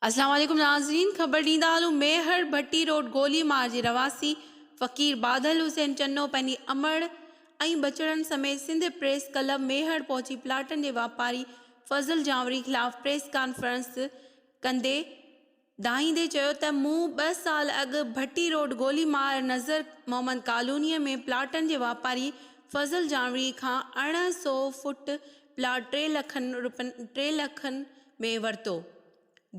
اسلام عليڪم ناظرين خبر ڏيندا هلون ميهڙ ڀٽي روڊ گولي مار جي رهواسي فقير بادل حسين چنو پنهنجي امڙ ۽ بچڙن سميت سنڌ پريس ڪلب ميهڙ پهچي پلاٽن جي واپاري فضل جانوري خلاف پريس ڪانفرنس ڪندي دانهيندي چيو ته مون ٻه سال اڳ ڀٽي روڊ گولي مار نذر محمد ڪالونيء ۾ پلاٽن جي واپاري فضل جانوڙي کان ارڙهن سئو فوٽ پلاٽ ٽي لکن رپين ٽي لکن ۾ ورتو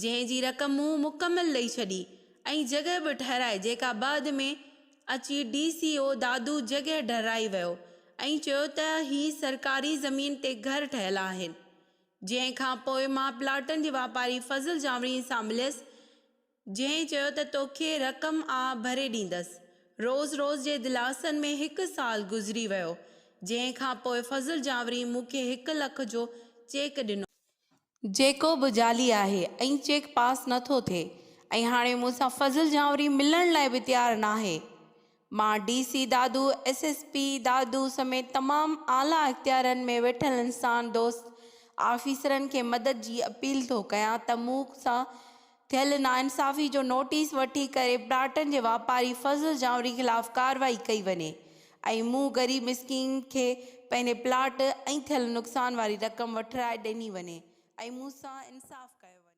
جنهن جي رقم مون مڪمل ڏئي ڇڏي ۽ جڳهه به ٺهرائي جيڪا بعد ۾ اچي ڊي سي او دادو جڳهه ٺهرائي ويو ۽ چيو ته هي سرڪاري زمين تي گهر ٺهيل آهن جنهن کان پوء مان پلاٽن جي واپاري فضل جانوڻي سان مليس، جنهن چيو ته توکي رقم آء ڀري ڏيندس. روز روز جي دلاسن ۾ هڪ سال گذري ويو، جنهن کان پوء فضل جانوڻي مون کي هڪ لک جو چيڪ ڏنو. جيڪو به جعلي آهي ۽ چيڪ پاس نه ٿو ٿئي ۽ هاڻي مون سان فضل جانوڻي ملڻ لاء به تيار ناهي. مان D C Dadu, S S P Dadu سميت تمام اعليٰ اختيارن ۾ ويٺل انسان دوست آفيسرن کي مدد جي اپيل ٿو ڪيان ته مون سان ٿيل ناانصافي جو نوٽيس وٺي ڪري پلاٽن جي واپاري فضل جانوري خلاف ڪارروائي ڪئي وڃي ۽ مون غريب مسڪين کي پنهنجي پلاٽ ۽ ٿيل نقصان واري رقم وٺرائي ڏني وڃي ۽ مون سان انصاف ڪيو وڃي.